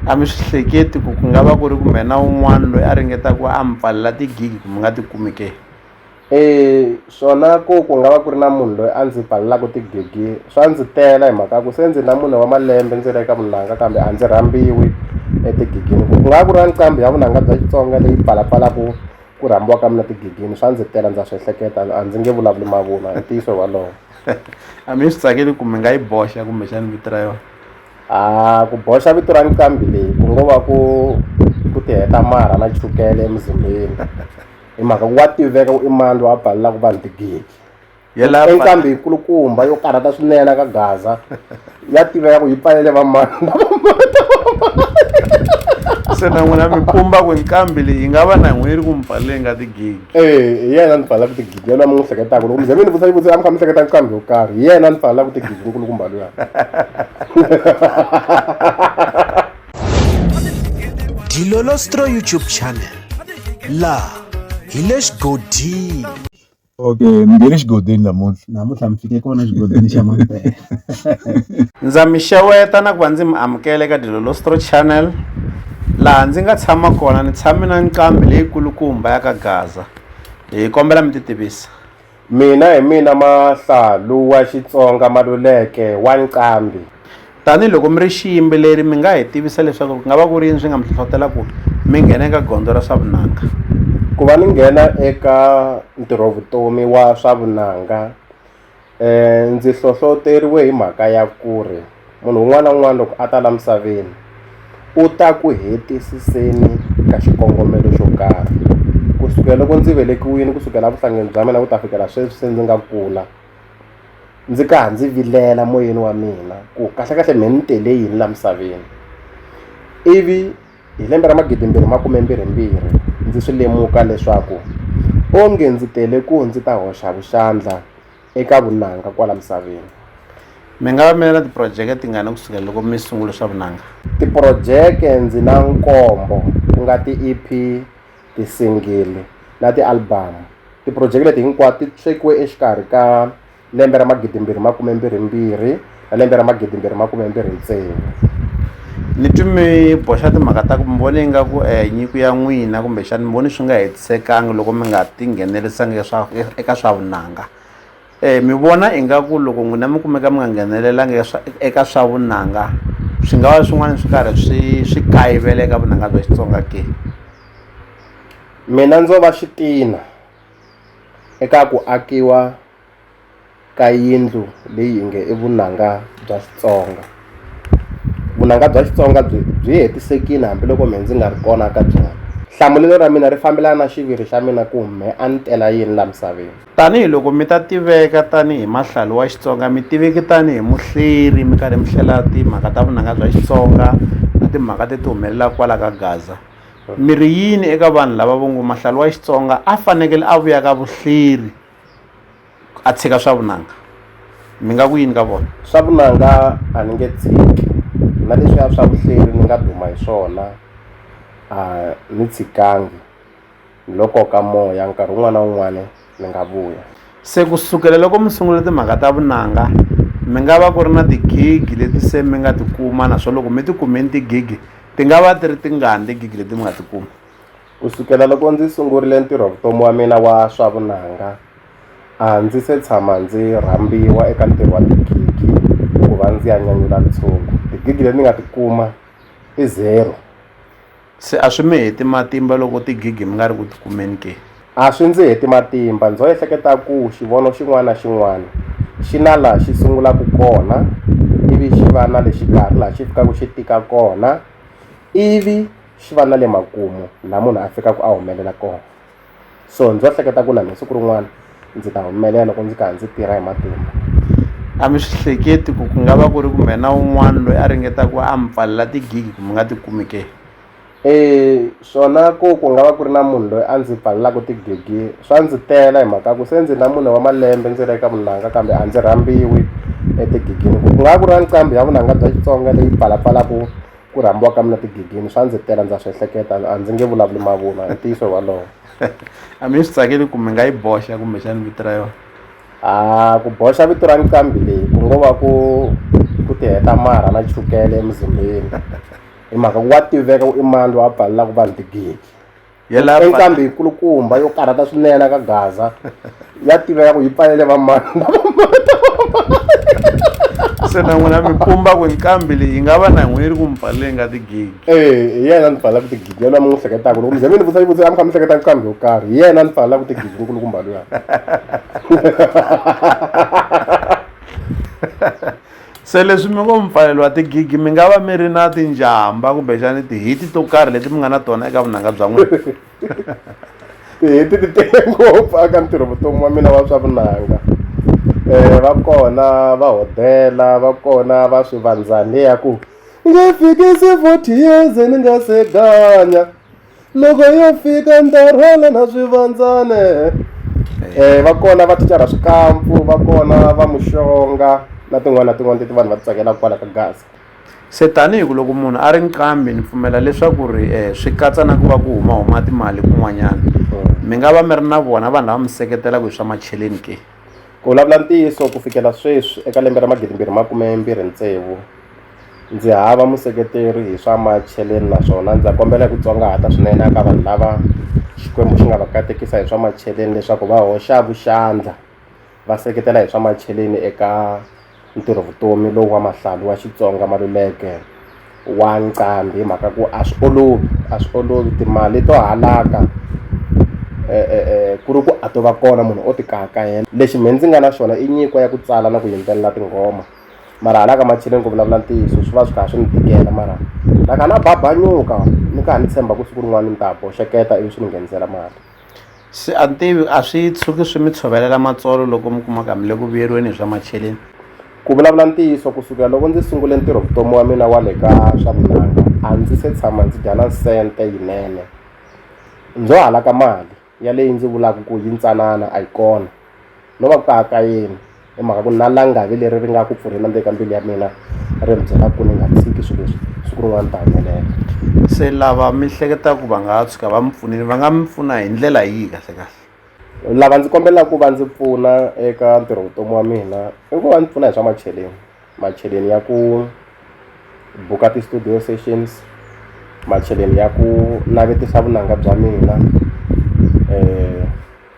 A mi swi hleketi ku ku nga va ku ri ku mhena un'wana loyi a ringetaka a mi pfalela tigigi ku mi nga ti kumi ke e swona ku ku nga va ku ri na munhu loyi a ndzi pfalelaka tigigi swa ndzi tela hi mhaka ku se ndzi na mune wa malembe ndzi ri eka vunanga kambe a ndzi rhambiwi etigigini ku ku nga va ku ri na nqambi ya vunanga bya xitsonga leyi pfalapfalaka ku rhambiwa ka mina tigigini swa ndzi tela ndza swi ehleketa a ndzi nge vulavuli mavunwa hi ntiyiso wolowo a mi swi tsakeli ku mi nga yi boxa kumbexana vito ra yona a ku boxa vito ra nqambi leyi ku ngo va ku ku ti heta marha na chukele emuzimbeni hi mhaka ku wa tiveka ku i mani loyi a balelaka vanhu tigidi i nqambi yikulukumba yo karhata swinene ka gaza ya tiveka ku yi pfalele vamani se na n'wina mi pumba ku nqambi leyi yi nga va na n'wini ri ku mi pfalele nga tigidi Eh, hi yena ni fanelaka tigidi yena mi n'wi hleketaka loko mi ze mi ni vutisa xivutiso a mi kha mi hleketa kambe yo karhi hi yena ni fanelaka tigidi nkulukumba luya dilolostro youtube channel laha hi le xigodini okay mi nge le xigodini namuntlha namuntlha mi fike kona xigodini xa mampela ndza mi xeweta na ku va ndzi mi amukela eka dilolostro channel Laha ndzi nga tshama kona ni tshame na nqambi leyikulukumba ya ka Gaza. Hi kombela mi titivisa. Mina hi mina Mahlalu wa Xitsonga Maluleke wa Nqambi. Tanihi loko mi ri xiyimbeleri mi nga hi tivisa leswaku ku nga va ku ri yini swi nga mi hlohlotela ku mi nghena eka gondzo ra swa vunanga? Ku va ni nghena eka ntirhovutomi wa swa vunanga um ndzi hlohloteriwe hi mhaka ya ku ri munhu un'wana na un'wana loko a ta la misaveni u ta ku hetisiseni ka xikongomelo xo karhi ku sukela loko ndzi velekiwile ku sukela vuhlangeni bya mina ku ta fikela sweswi se ndzi nga kula ndzi ka ha ndzi vilela moyeni wa mina ku kahlekahle me ni tele yini la misaveni ivi Hi lembe ra 2022 ndzi swi lemuka leswaku onge ndzi tele ku ndzi ta hoxa vuxandla eka vunanga kwala misaveni. Mi nga va mi ri na tiphurojeke tingani ku sukela loko mi sungule swa vunanga? Tiphurojeke ndzi na nkombo ku nga ti-EP, tisingili na tialibamu. Tiphurojeke leti hinkwato ti swekiwe exikarhi ka. lembe ra magidimbirhi makume mbirhi mbirhi na lembe ra magidimbirhi makume mbirhi ntsevu ni twi mi boxa timhaka ta ku mi vone ingaku um eh, nyiko ya n'wina kumbexani mi voni swi nga hetisekangi loko mi nga tinghenelesangi eka swa vunanga um mi vona ingaku loko n'wina mi kumeka mi nga nghenelelanga eka swa vunanga swi nga va swin'wana swi karhi swi swi kayivela eka vunanga bya xitsonga ke mina ndzo va xitina eka ku akiwa ka yindlu leyi nge i vunanga bya Xitsonga vunanga bya Xitsonga byi byi hetisekile hambiloko mehe ndzi nga ri kona ka byona hlamulelo ra mina ri fambelana na xiviri xa mina ku mehe a ni tela yini la misaveni tanihi loko mi ta tiveka tanihi mahlali wa Xitsonga mi tiveki tanihi muhleri mi karhi mi hlela timhaka ta vunanga bya Xitsonga na timhaka leti humelelaka kwala ka Gaza. Mi ri yini eka vanhu lava vo ngo mahlalu wa Xitsonga a fanekele a vuya ka vuhleri a tshika swa vunanga? Mi nga ku yini ka vona? Swa vunanga a ni nge tshiki na leswiya swa vuhleri ni nga duma hi swona a ni tshikangi. Lo koka moya, nkarhi wun'wana na wun'wana mi nga vuya. Se ku sukela loko mi sungule timhaka ta vunanga, mi nga va ku ri na tigigi leti se mi nga ti kuma naswona loko mi ti kumeni tigigi, ti nga va ti ri tingani tigigi leti mi nga ti kuma? Ku sukela loko ndzi sungurile ntirho-vutomi wa mina wa swa vunanga, a ndzi se tshama ndzi rhambiwa eka ntirho wa tigigi ku va ndzi ya nyanyula ntshungu. Tigigi leti ni nga ti kuma i zero. Se a swi mi heti matimba loko tigigi mi nga ri ku ti kumeni ke? A swi ndzi heti matimba. Ndzo ehleketa ku xivono xin'wana na xin'wana xi na laha xi sungulaka kona ivi xi va na le xikarhi laha xi fikaka xi tika kona, ivi xi va na le makumu laha munhu a fikaka a humelela kona. so ndzi va hleketa ku na mina siku rin'wana ndzi ta humelela loko ndzi karhi ndzi tirha hi matimba a mi swi hleketi ku ku nga va ku ri kumbe na un'wana loyi a ringeta ku a mi pfalela tigigi ku mi nga ti kumi ke um swona ku ku nga va ku ri na munhu loyi a ndzi pfalelaka tigigi swa ndzi tela hi mhaka ku se ndzi na mune wa malembe ndzi ri eka vunanga kambe a ndzi rhambiwi etigigini ku nga va ku ri na nqambi ya vunanga bya xitsonga leyi pfalapfalaku ku rhambiwa ka mina tigigini swa ndzi tela ndza swi ehleketa a ndzi nge vulavuli mavunwa i ntiyiso walowo a mi swi tsakeli ku mi nga yi boxa kumbexani vito ra yona a ku boxa vito ra nqambi leyi ku ngo va ku ku ti heta marha na chukele emuzimbeni hi mhaka ku wa tiveka ku i mani loyi a pfalelaka vanhu tigigi Yelapa. Enkambi hi kulukumba yo karhata swinene ka Gaza ya tiveka ku yi pfalele vamani se na n'wina mi pumba ku nkambi leyi yi nga va na n'wini ri ku mi pfalele nga tigigi eh hi yena ni pfalelaka tigigi yena mi n'wi hleketaka loko mi ze mi ni vutisa xivutiso a mi kha mi hleketa nkambi yo karhi hi yena ni pfalelaka tigigi nkulukumba luya se leswi mi ngo mipfalelo wa tigigi mi nga va mi ri na tinjhamba kumbexani tihiti to karhi leti mi nga na tona eka vunanga bya n'wina tihiti ti tele ngopfu aka ntirho vutomi wa mina wa swa vunanga um va kona va hodela va kona va swivandzani ya ku nge fikisi forty years ni nga se ganya loko yo fika ndarhwala na swivandzane eh va kona va ticara swikampfu va kona va muxonga na tin'wana na tin'wana leti vanhu va ti tsakelaka kwala ka gasi se tanihi ku loko munhu a ri nqambi ni pfumela leswaku ri um swi katsa na ku va ku humahuma timali kun'wanyana mi nga va mi ri na vona vanhu lava mi seketelaka hi swa macheleni ke ku vulavula ntiyiso ku fikela sweswi eka lembe ra magidimbirhi makumembirhi tsevu ndzi hava museketeri hi swa macheleni naswona ndza kombela hi ku tsongahata swinene eka vanhu lava Xikwembu xi nga va katekisa hi swa macheleni leswaku va hoxa vuxandla va seketela hi swa macheleni eka ntirho vutomi lowu wa Mahlali wa Xitsonga Maluleke wa Nqambi hi mhaka ku a swi olovi a swi olovi timali to halaka ku ri ku a to va kona munhu o ti kaha kahela lexi me ndzi nga na xona i nyiko ya ku tsala na ku yimbelela tinghoma. mara hala ka macheleni ku vulavula ntiyiso swi va swi kha swi ni tikela mara na kha na babanyuka ni kha ni tshemba ku siku rin'wana ni ta boxeketa ivi swi ni nghenisela mali se a ni tivi a swi tshuki swi mi tshovelela matsolo loko mi kumaka mi le ku vuyeriweni hi swa macheleni ku vulavula ntiyiso kusukela loko ndzi sungule ntirho vutomi wa mina wa le ka swa vunanga a ndzi se tshama ndzi dya na sente yinene ndzo halaka mali ya leyi ndzi vulaka ku yi ntsanana a yi kona no va ku ka ka yini hi mhaka ku na langavi leri ri nga ku pfurheni ndzeni ka mbilu ya mina ri mi byela ku ni nga tshiki swilo leswi siku rin'wana ta humelela se lava mi hleketa ku va nga tshuka va mi pfunile va nga mi pfuna hi ndlela yihi kahle kahle lava ndzi kombelaka ku va ndzi pfuna eka ntirho vutomi wa mina i ku va ndzi pfuna hi swa macheleni macheleni ya ku buka ti-studio sessions macheleni ya ku navetisa vunanga bya mina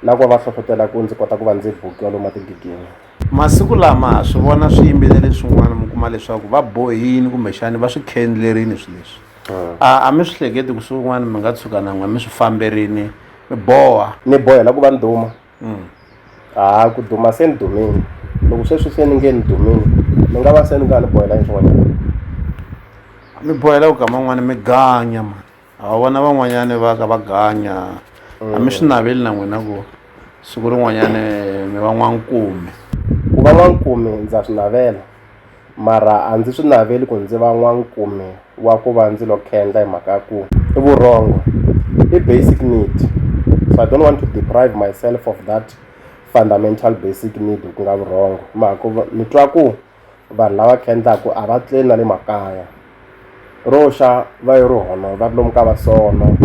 na ku va va hlohlotela ku ndzi kota ku va ndzi bukiwa lomu matigidini masiku lama ha swi vona swiyimbeleri swin'wana mi kuma leswaku va bohini kumbexani va swi khendlerini swi leswi hmm. a a mi swi hleketi ku swin'wana mi nga tshuka na n'we mi swi famberini mi boha ni bohela ku va nduma mm. ha ku duma se ni dumile loko sweswi se ni nge ni dumile ni nga va se ni nga ni bohela ni swin'wanyana mi bohela ku kama n'wana mi ganya mani a wa vona van'wanyani va ka va ganya a mi swi naveli na n'wina ku siku rin'wanyani mi va n'wankume ku va n'wankume ndza swi navela mara a ndzi swi naveli ku ndzi va n'wankumi wa ku va ndzi lo khendla hi mhaka ya ku i vurhongo i basic need so i don't want to deprive myself of that fundamental basic need ku nga vurhongo mhaka ku ni twa ku vanhu lava khendlaku a va tleli na le makaya ro xa va yi ri hono va ri lomu ka vasono um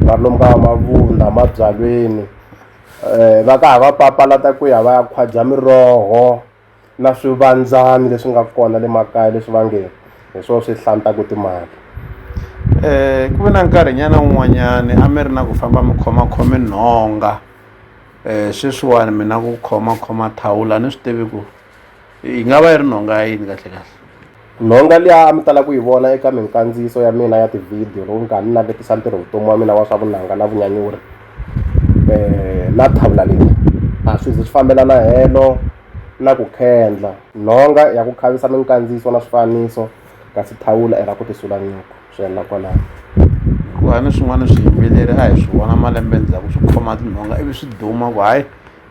va ri lomu ka vamavunda mabyalweni um va ka ha va papalata ku ya va ya khwadya miroho na swivandzani leswi nga kona le makaya leswi va nge hi swo swi hlantaku timali um ku ve na nkarhinyana wun'wanyani a mi ri na ku famba mi khomakhome nhonga um sweswiwani mina ku khomakhoma thawula a ni swi tivi ku yi nga va yi ri nhonga ya yini kahlekahle Nhonga liya a mi tala ku yi vona eka minkandziyiso ya mina ya tivhidiyo loko ni karhi ni navetisa ntirho vutomi wa mina wa swa vunanga na vunyanyuri um na thavula leyi a swi zi swi fambelana helo na ku khendla nhonga ya ku khavisa minkandziyiso na swifaniso kasi thawula i ra ku tisula nyuku swi helela kwalaho hikuva ni swin'wana swiyimbeleri a hi swi vona malembe ndzhaku swi khoma tinhonga ivi swi duma ku hayi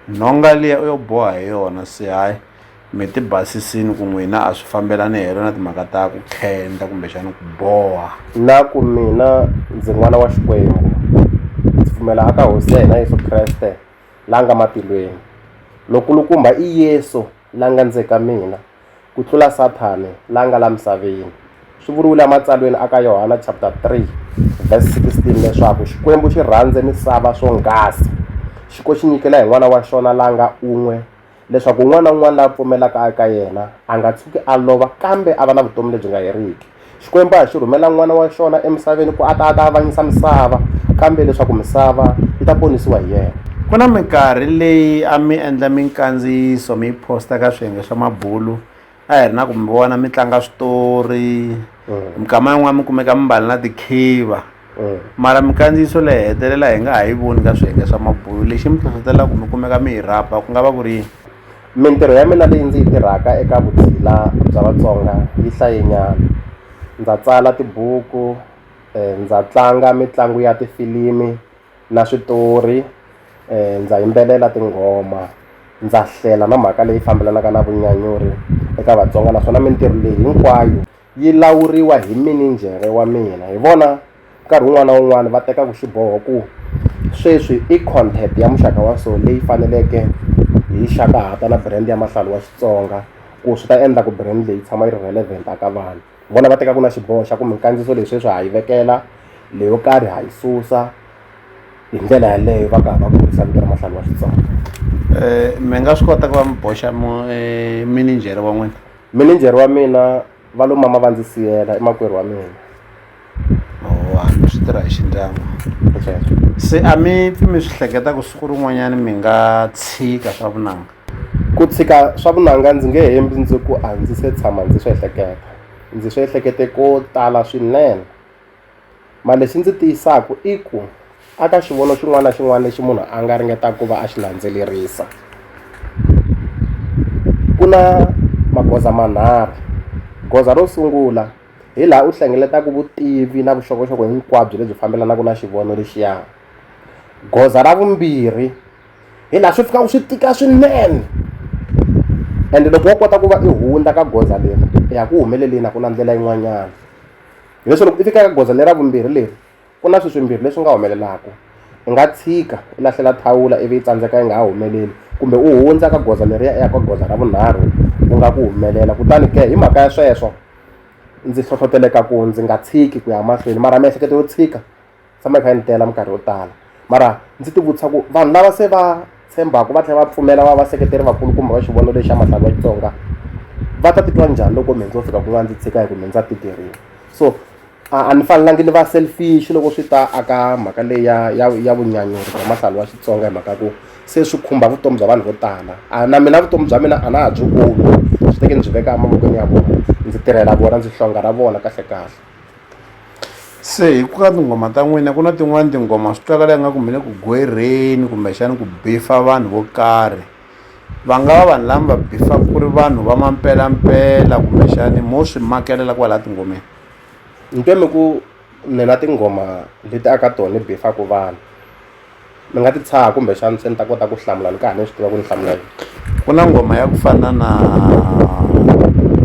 nhonga liya u yo boha hi yona se hayi mi ti basisini ku n'wina a swi fambelani helo na timhaka ta ku khenda kumbexana ku boha na ku mina ndzi n'wana wa xikwembu ndzi pfumela aka hosi ya hina yesu kreste la nga matilweni lokulukumba i yesu la nga ndze ka mina ku tlula sathane la nga la misaveni swi vuriwile ematsalweni aka yohana chapter 3 verse 16 leswaku xikwembu xi rhandze misava swonghasi xiko xi nyikela hi n'wana wa xona la nga un'we leswaku un'wana na un'wana la pfumelaka eka yena a nga tshuki a lova kambe a va na vutomi lebyi nga heriki xikwembu a hi xi rhumela n'wana wa xona emisaveni ku a ta a ta avanyisa misava kambe leswaku misava yi ta ponisiwa hi yena ku na minkarhi leyi a mi endla minkandziyiso mi yi posta ka swiyenge swa mabulu a hi ri na ku mi vona mi tlanga switori mm. mikama yin'wana mi kumeka mi mbali na tikhiva mm. mara mikandziyiso leyi hetelela hi nga ha yi voni ka swiyenge swa mabulo lexi mi hlohlotelaka ku mi kumeka mi hi rhaba ku nga va ku ri yini mintirho ya mina leyi ndzi yi tirhaka eka vutshila bya vatsonga yi hlayenyana ndza tsala tibuku um ndza tlanga mitlangu ya tifilimi na switori ndza yimbelela tinghoma ndza hlela na mhaka leyi fambelanaka na vunyanyuri eka vatsonga naswona mintirho leyi hinkwayo yi lawuriwa hi mininjhere wa mina hi vona nkarhi wun'wani na wun'wani va tekaku xiboho ku sweswi i content ya muxaka wa so leyi faneleke hi xaka hata na brand ya mahlalo wa xitsonga ku swi ta endla ku brand leyi tshama yi ri relevant a ka vanhu. vona va teka ku na xiboho xa ku minkandziyiso leyi sweswi ha yi vekela leyo karhi ha yi susa hi ndlela yaleyo va karhi va kurisa vito ra mahlanu wa xitsonga um mi nga swi kota ku va mi boxa eh, mininjhere wa n'wina mininjhere wa mina va lo mama va ndzi siyela i makwerhu wa mina vanhu swi tirha hi xindyangu se a mi pfi mi swi hleketa ku siku rin'wanyana mi nga tshika swa vunanga ku tshika swa vunanga ndzi nge hembi ndzi ku a ndzi se tshama ndzi swi ehleketa ndzi swi ehlekete ko tala swinene ma lexi ndzi tiyisaka i ku aka xivono xin'wana na xin'wana lexi munhu a nga ringetaka ku va a xi landzelerisa ku na magoza manharhu goza ro sungula hi laha u hlengeletaka vutivi na vuxokoxoko hinkwabyo lebyi fambelanaka na xivono lexiya goza ra vumbirhi hi laha swi fikaka swi tika swinene ende loko wo kota ku va i hundza ka goza leri i ya ku humeleleni a ku na ndlela yin'wanyana hileswi loko i fika ka goza lera vumbirhi leri Ku na swilo swimbirhi leswi nga humelelaka. U nga tshika u lahlela thawula ivi yi tsandzeka yi nga ha humeleli, kumbe u hundza ka goza leriya u ya ka goza ra vunharhu ku nga ku humelela. Kutani ke hi mhaka ya sweswo, ndzi hlohleteleka ku ndzi nga tshiki ku ya mahlweni mara miehleketo yo tshika yi tshama yi kha yi ni tela minkarhi yo tala. Mara ndzi ti vutisa ku vanhu lava se va tshembaka va tlhela va pfumela va vaseketeri vakulukumba va xivono lexi xa Matlala ya Xitsonga, va ta titwa njhani loko mehe ndzo fika kun'wana ndzi tshika hi ku me ndza tikeriwa? So. a a ni fanelangi ni va selfish loko swi ta a ka mhaka leyi ya ya ya vunyanyuri bya mahlalo wa xitsonga hi mhaka ku se swi khumba vutomi bya vanhu vo tala a na mina vutomi bya mina a na ha byi kumi swi teke ni byi veka emavokweni ya vona ndzi tirhela vona ndzi hlonga ra vona kahle kahle se hi ku ka tinghoma ta n'wina ku na tin'wani tinghoma swi twakala yi nga ku mi le ku gwerheni kumbexani ku bifa vanhu vo karhi va nga va vanhu lama va bifaka ku ri vanhu va mampelampela kumbexani mo swi makelela kwalaha tingomeni Mpime ku ni na tinghoma leti aka tona ni befaka vanhu ni nga ti tshaha kumbexana se ni ta kota ku hlamula ni ka ha ni swi tiva ku ni hlamula yini ku na nghoma ya ku fana na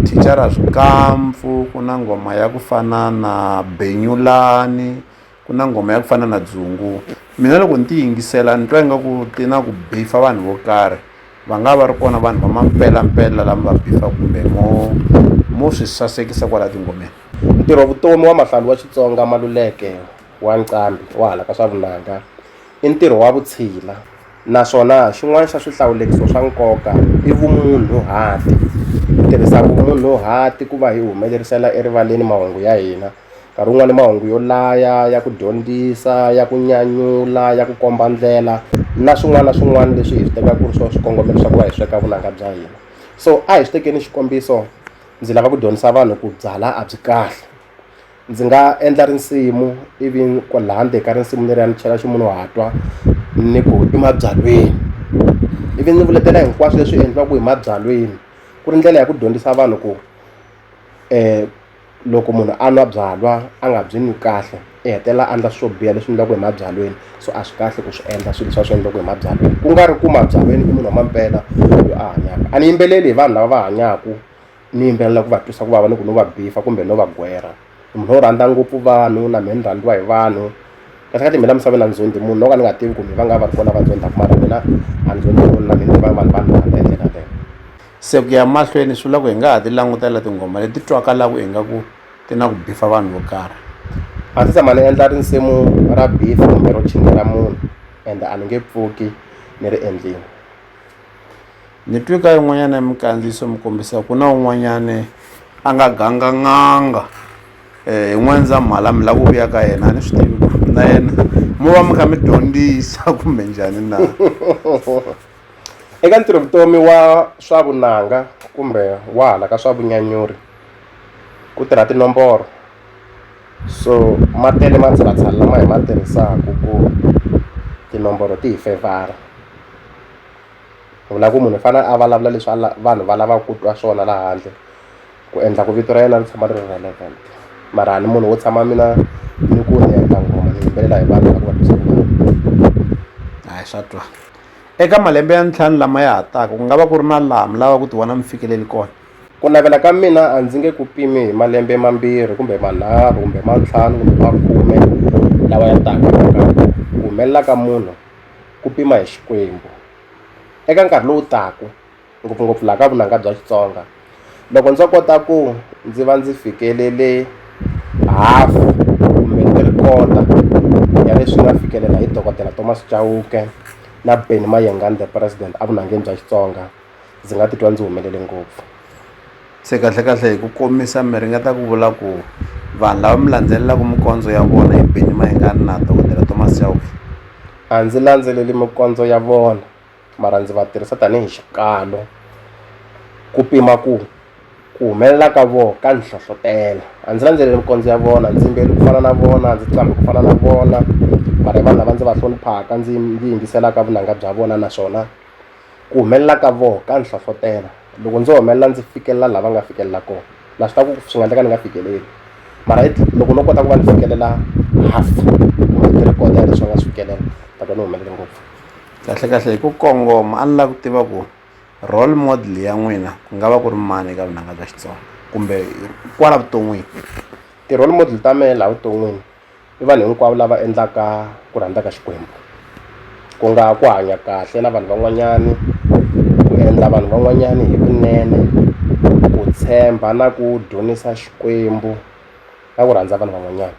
thicara swikampfu ku na nghoma ya ku fana na benyulani. ku na nghoma ya ku fana na dzungu mina loko ni ti yingisela ni twa ingaku ti na ku bifa vanhu vo karhi va nga va ri kona vanhu va mampelampela lama va bifa kumbe mo mo swi sasekisa kwala tingomeni ntirho vutomi wa mahlalu wa xitsonga maluleke wa nqambi wa hala ka swa vunanga i ntirho wa vutshila naswona xin'wana xa swihlawulekiso swa nkoka i vumunhu hati ku tirhisa vumunhu hati ku va hi humelerisela erivaleni mahungu ya hina nkarhi wun'wani mahungu yo laya ya ku dyondzisa ya ku nyanyula ya ku komba ndlela na swin'wana na swin'wana leswi hi swi tekaka ku ri swo swikongomelo swa ku va hi sweka vunanga bya hina so a hi swi tekeni xikombiso ndzi lava ku dyondzisa vanhu ku byala a byi kahle ndzi nga endla risimu ivi ku laha ndzeni ka risimu leriya ni chela ximunhu wa twa ni ku i mabyalweni ivi ndzi vuletela hinkwaswo leswi endliwaka hi mabyalweni ku ri ndlela ya ku dyondzisa vanhu ku um loko munhu a nwa byalwa a nga byi n'wi kahle i hetelela a ndla swo biha leswi endliwaka hi mabyalweni so a swi kahle ku swi endla swilo swa swi endliwaka hi mabyalweni ku nga ri ku mabyalweni i munhu wa mampela loyi a hanyaka a ni yimbeleli hi vanhu lava va hanyaka ni yimbelela ku va twisa ku vava ni ku no va bifa kumbe no va gwerha i munhu wo rhandza ngopfu vanhu na mehe ni rhandziwa hi vanhu kasi ka timhela misaveni a ni zondhi munhu no ka ni nga tivi ku mi va nga va ri kona va zondaku mara mina a ni zondhi munhu na mina ni va vanhu vanhu va rhandza hi ndlela yaleyo Se ku ya mahlweni swi vula ku hi nga ha ti langutela tinghoma leti twakalaku ingaku ti na ku bifa vanhu vo karhi a ndzi tshama ni endla risimu ra beef kumbe ro chingela munhu ende a ni nge pfuki ni ri endlini ni twi ka yin'wanyana ya mikandziyiso mi kombisa ku na un'wanyane a nga ganga n'anga um hi n'wendzamhala mi la ku vuya ka yena a ni swi tivi ku na yena mo va mi kha mi dyondzisa kumbe njhani na Eka ntirho vutomi wa swa vunanga kumbe wa hala ka swa vunyanyuri ku tirha tinomboro so ma tele matshalatshala lama hi ma tirhisaka ku tinomboro ti hi fevhara vula ku munhu i fanele a vulavula leswi a vanhu va lavaka ku twa swona laha handle ku endla ku vito ra yena ri tshama ri ri relevant mara a ni munhu wo tshama mina ni ku ni endla nghoma ni yimbelela hi vanhu lava ku va hi swa twa. Eka malembe ya ntlhanu lama ya ha taka, ku nga va ku ri na laha mi lavaka ku tivona mi fikeleli kona. Ku navela ka mina a ndzi nge ku pimi hi malembe mambirhi kumbe manharhu kumbe ma ntlhanu kumbe ma khume lawa ya taka nakambe. Ku humelela ka munhu ku pima hi Xikwembu. Eka nkarhi lowu taka, ngopfungopfu laha ka vunanga bya Xitsonga loko ndzo kota ku ndzi va ndzi fikelele half kumbe three quarter ya leswi nga fikelela hi dokodela Thomas Chauke na Benny Mayengani the president a vunangeni bya Xitsonga ndzi nga titwa ndzi humelele ngopfu se kahle kahle hi ku komisa mi ringeta ku vula ku vanhu lava mi landzelelaka mikondzo ya vona hi Benny Mayengani na dokodela Thomas Chauke a ndzi landzeleli mikondzo ya vona mara ndzi va tirhisa tanihi xikalo ku pima ku ku humelela ka vona ka ndzi hlohlotela a ndzi landzeleli mikondzo ya vona ndzi yimbeli ku fana na vona ndzi qambhi ku fana na vona mara hi vanhu lava ndzi va hloniphaka ndzi ndzi yingiselaka vunanga bya vona naswona ku humelela ka vona ka ndzi hlohlotela loko ndzo humelela ndzi fikelela lava nga fikelela kona na swi tiva ku swi nga endleka ni nga fikeleli mara loko no kota ku va ni fikelela half kumbe three quarter ya leswi va nga swi fikelela ta twa ni humelele ngopfu Kahlekahle hi ku kongoma a ni lava ku tiva ku role model ya n'wina ku nga va ku ri mani eka vunanga bya Xitsonga kumbe kwala vuton'wini ti-role model ta mehe laha vuton'wini i vanhu hinkwavo lava endlaka ku rhandza ka Xikwembu ku nga ku hanya kahle na vanhu van'wanyani ku endla vanhu van'wanyani hi vunene ku tshemba na ku dzunisa Xikwembu na ku rhandza vanhu van'wanyana.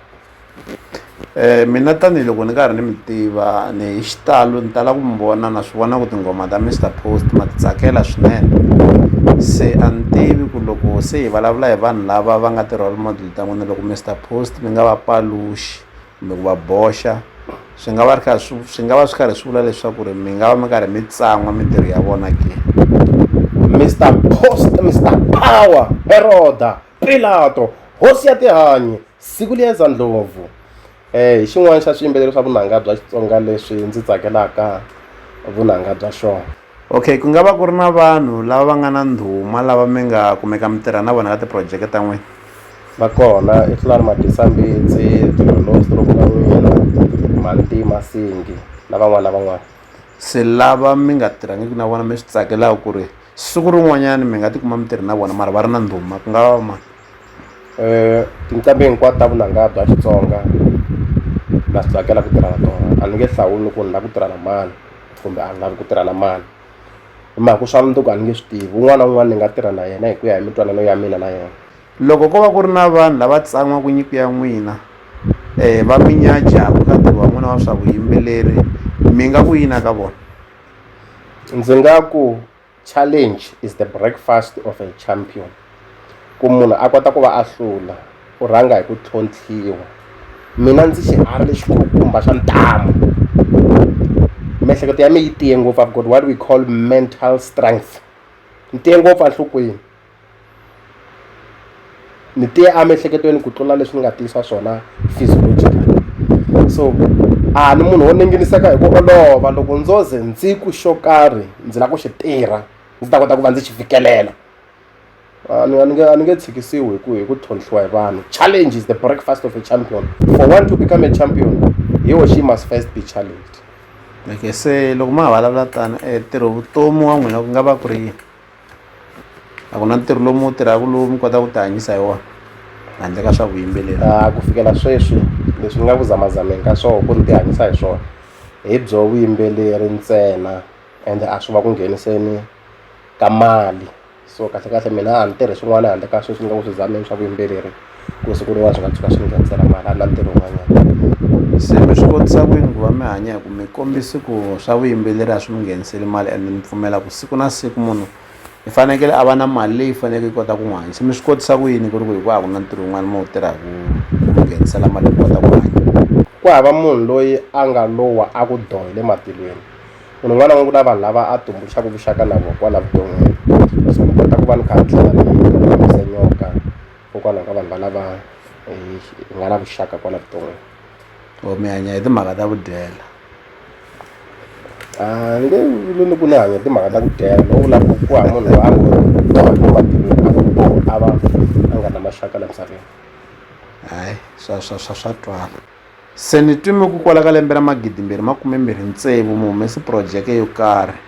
mina tanihiloko ni karhi ni mi tiva ni hi xitalo ni tala ku mi vona na swi vona ku tinghoma ta Mister Post ma ti tsakela swinene se a ni tivi ku loko se hi vulavula hi vanhu lava va nga ti-role model ta n'wina loko Mister Post mi nga va paluxi kumbe ku va boxa swi nga va ri kha swi swi nga va swi karhi swi vula leswaku ri mi nga va mi karhi mi tsan'wa mintirho ya vona ke Mister Post Mister Power Heroda Pilato hosi ya tihanyi Siku Liyeza Ndlovu hi xin'wana xa swiyimbeleri swa vunanga bya Xitsonga leswi ndzi tsakelaka vunanga bya xona. Okay, ku nga va ku ri na vanhu lava va nga na ndhuma lava mi nga kumeka mi tirha na vona ka tiphurojeke ta n'wina? Va kona i Thulani Magisa-Mbitsi, Dilolo Stroke-Manghena, Mhanti Masingi na van'wana na van'wana. Se lava mi nga tirhangiki na vona mi swi tsakelaka ku ri siku rin'wanyana mi nga tikuma mi tirhe na vona mara va ri na ndhuma ku nga va va mani? tinqambi hinkwato ta vunanga bya Xitsonga na swi tsakela ku tirha na tona a ni nge hlawuli ku ni lava ku tirha na mani kumbe a ni lavi ku tirha na mani hi mhaka ku swa mundzuku a ni nge swi tivi un'wana na un'wana ni nga tirha na yena hi ku ya hi mitwanano ya mina na yena loko ko va ku ri na vanhu lava tsan'waka nyiko ya n'wina um va mi nyajaka ka ntirho wa n'wina wa swa vuyimbeleri mi nga ku yini ka vona ndzi nga ku Challenge is the breakfast of a champion ku munhu a kota ku va a hlula u rhanga hi ku tlhontlhiwa mina ndzi xiharhi lexi khukhumba xa ntamu miehleketo ya mi yi tiye ngopfu i've got what we call mental strength ni tiye ngopfu enhlokweni ni tiye emiehleketweni ku tlula leswi ni nga tiyisa swona physiologically so a ni munhu wo ninginiseka hi ku olova loko ndzo ze ndzi ku xo karhi ndzi lava ku xi tirha ndzi ta kota ku va ndzi xi fikelela a ni nge a ni nge tshikisiwi hi ku hi ku tlhontlhiwa hi vanhu challenge is the breakfast of a champion for one to become a champion he or she must first be challenged okay se loko ma ha vulavula tano um ntirho vutomi wa n'wina ku nga va ku ri yini a ku na ntirho lowu mi wu tirhaka lowu mi kotaka ku ti hanyisa hi wona handle ka swa vuyimbeleri a ku fikela sweswi leswi ni nga ku zamazameni ka swona ku ni ti hanyisa hi swona hi byo vuyimbeleri ntsena ende a swi va ku ngheniseni ka mali so kahlekahle mina a ni tirhi swin'wana handle ka sweswi ni nga ku swi zameni swa vuyimbeleri. ku siku rin'wana swi nga tshuka swi nghenisela mali a na ntirho wun'wanyana se mi swi kotisa ku yini ku va mi hanya hi ku mi kombisi ku swa vuyimbeleri a swi mi ngheniseli mali and mi pfumela ku siku na siku munhu i fanekele a va na mali leyi faneleke yi kota ku n'wi hanyisa mi swi kotisa ku yini ku ri ku hi ku a ku na ntirho wun'wana mi wu tirhaku ku mi nghenisela mali ku kota ku hanya ku hava munhu loyi a nga lowa a ku doh hi le matilweni munhu un'wana n'wana ku na vanhu lava a tumbuluxaka vuxaka na vona kwala vuton'wini so mi kota ku va ni kha ni tlhela ni fambisa nyoka kokwalaho ka vanhu valava hi nga na vuxaka kwala vuton'wini or mi hanya hi timhaka ta ku dyela a ni nge vuli ni ku ni hanya hi timhaka ta ku dyela no vula ku ku hava munhu loyi a ngo a va a nga na maxaka la misaveni hayi swa swa swa swa twala Se ni twime ku kwala ka lembe ra magidimbirhi makume-mbirhi ntsevu mu humese phurojeke yo karhi.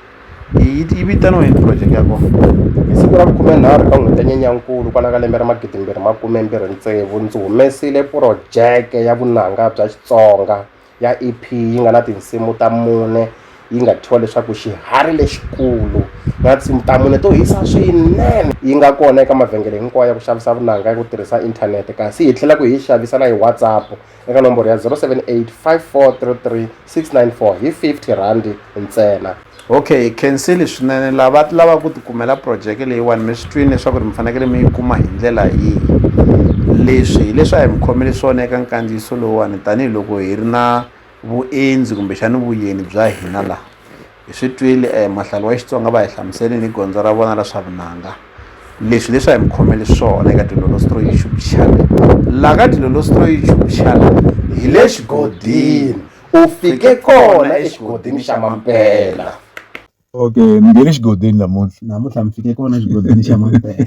Yi yi vitaniwa yini phurojeke ya kona? Hi siku ra vukhume-nharhu ka n'hweti ya Nyenyankulu kwala ka lembe ra magidimbirhi makume-mbirhi ntsevu ndzi humesile phurojeke ya vunanga bya Xitsonga ya EP yi nga na tinsimu ta mune, yi nga thyiwa leswaku xiharhi lexikulu na tinsimu ta mune to hisa swinene yi nga kona eka mavhengele hinkwawo ya ku xavisa vunanga ya ku tirhisa inthanete kasi hi tlhela ku hi xavisa na hi whatsapp eka nomboro ya 0785433694 hi 50 rhandi ntsena okay khenseli swinene lava lava ku tikumela projeke leyiwani mi swi twini leswaku ri mi fanekele mi yi kuma hi ndlela yihi leswi hileswi a hi mi khomele swona eka nkandziyiso lowuwani tanihiloko hi ri na vuendzi kumbexani vuyeni bya hina la hi swi twile um mahlalo wa xitsonga va hi hlamuselini hi gondzo ra vona ra swa vunanga leswi leswi a hi mi khomeli swona eka dilolostro youtube channel la ka dilolostro youtube channel hi le xigodini u fike kona exigodini xa mampela okay mi nge le xigodini namuntlha namuntlha mi fike kona exigodini xa mampela